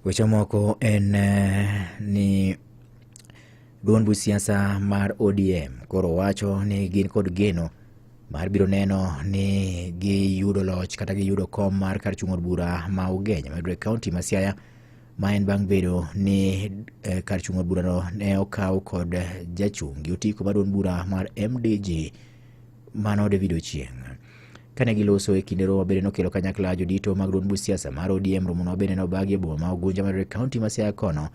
Weche moko en eh, ni duond buch siasa mar ODM koro wacho ni gin kod geno mar biro neno ni giyudo loch kata giyudo kom mar kar chung' od bura ma Ugenya mayudore e kaonti ma Siaya ma en bang' bedo ni eh, kar chung' od burano ne okaw kod jachung' gi otiko mar duond bura mar MDG Mano David Ochieng'. Kane giloso e kinde romo bende nokelo kanyakla jodito mag duond buch siasa mar ODM romono bende nobagi e boma ma Ugunja mar kaunti ma Siaya kono.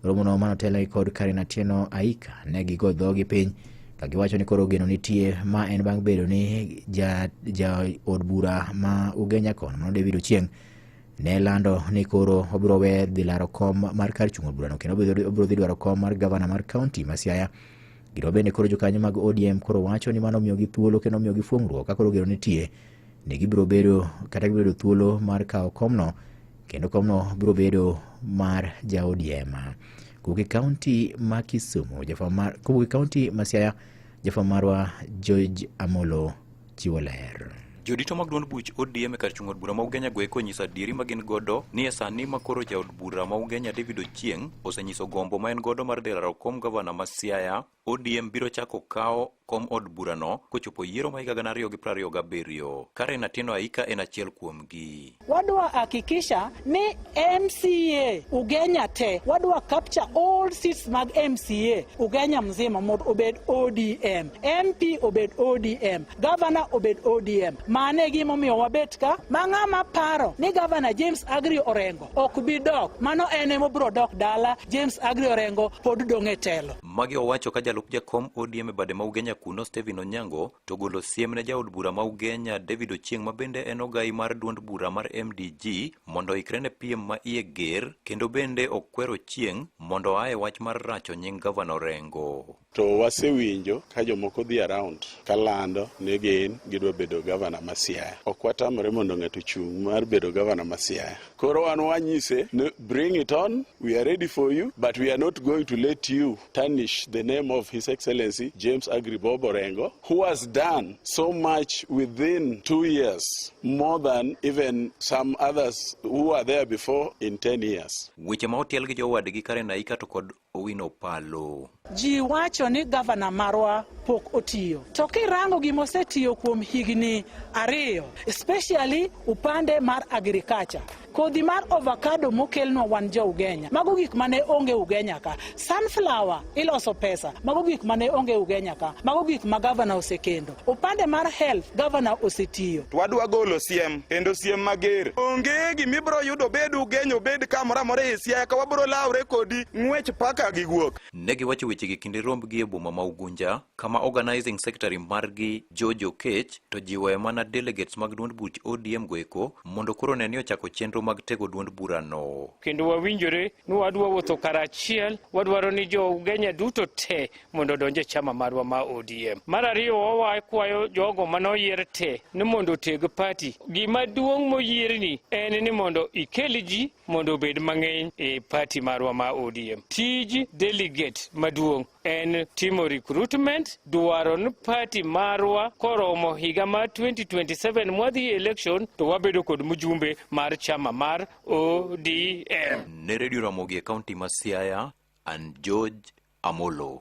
Romono mano telne kod Karen Atieno Aika ne gigo dhogi piny ka giwacho ni koro geno nitie ma en bang' bedo ni ja, ja od bura ma Ugenya kono mano David Ochieng' ne lando ni koro obiro we dhi laro kom mar kar chung' od burano kendo obiro obiro dhi dwaro kom mar gavana mar kaunti ma Siaya Gino bende koro jokanyo mag ODM koro wacho ni mano omiyogi thuolo kendo omiyogi fuong'ruok ka koro gero nitie ni gibiro bedo kata gibiro bedo thuolo mar kawo komno kendo komno biro bedo mar ja ODM. Kowuok e kaunti ma Kisumu, jafwamb mar kowuok e kaunti ma Siaya, jafwamb marwa George Amolo chiwo ler. Jodito mag duond buch ODM e kar chung' od bura ma Ugenya go eko nyiso adieri ma gin godo ni e sani ma koro jaod bura ma Ugenya David Ochieng' osenyiso gombo ma en godo mar dhi laro kom gavana ma Siaya, ODM biro chako kawo kom od burano kochopo yiero ma higa gana ariyo gi piero ariyo gabiriyo. Karen Atieno Aika en achiel kuomgi. Wadwa hakikisha ni MCA Ugenya te, wadwa capture all seats mag MCA Ugenya mzima mondo obed ODM, MP obed ODM, governor obed ODM. Mane e gimomiyo wabet ka ma ng'ama paro ni governor James Agri Orengo ok bi dok, mano en ema obiro dok dala. James Agri Orengo pod dong' e telo. Magi owacho ka jalup jakom ODM e bade ma Ugenya kuno Stephen Onyango to golo siem ne jaod bura ma Ugenya David Ochieng ma bende en ogai mar duond bura mar MDG mondo oikre ne piem ma iye ger kendo bende okwero Ochieng mondo oa e wach mar racho nying Gavana Orengo. To wasewinjo ka jomoko dhi around ka lando ni gin gidwa bedo gavana ma Siaya. Ok watamre mondo ng'ato ochung' mar bedo gavana ma Siaya. Koro wan wanyise ni bring it on, we are ready for you but we are not going to let you tarnish the name of His Excellency James Agri Bob Orengo, who has done so much within two years, more than even some others who were there before in 10 years. Weche ma otiel gi jowadgi Karen Aika to kod Owino Palo. Ji wacho ni gavana marwa pok otiyo, to kirango gima osetiyo kuom higni ariyo, especially upande mar agriculture Kodhi mar ovakado mokelnwa wan jo Ugenya, mago gik mane onge Ugenya ka. Sunflower iloso pesa, mago gik mane onge Ugenya ka. Mago gik ma gavana osekendo. Upande mar health gavana osetiyo. Twadwa golo siem kendo siem mager. Onge gimibro yudo bed Ugenya obed kamoro amora e Siaya ka wabro lawre kodi ng'wech paka gi guok. Ne giwacho wechegi kinde rombgi e boma ma Ugunja. kama organizing secretary margi George Okech to jiwoe mana delegates mag duond buch ODM goeko mondo koro ne ni ochako chenro mag tego duond burano. Kendo wawinjore ni wadwa wuotho karachiel, wadwaro ni jo Ugenya duto te mondo odonje chama marwa ma ODM. Mar ariyo wawae kwayo jogo manoyier te ni mondo oteg party. Gima duong' moyierni en ni mondo ikel ji mondo obed mang'eny e party marwa ma ODM. Tij delegate maduong' en timo recruitment dwaro ni party marwa koromo higa mar 2027 mwadhi election to wabedo kod mjumbe mar chama mar ODM. Ne Radio Ramogi e kaunti ma Siaya, and George Amolo.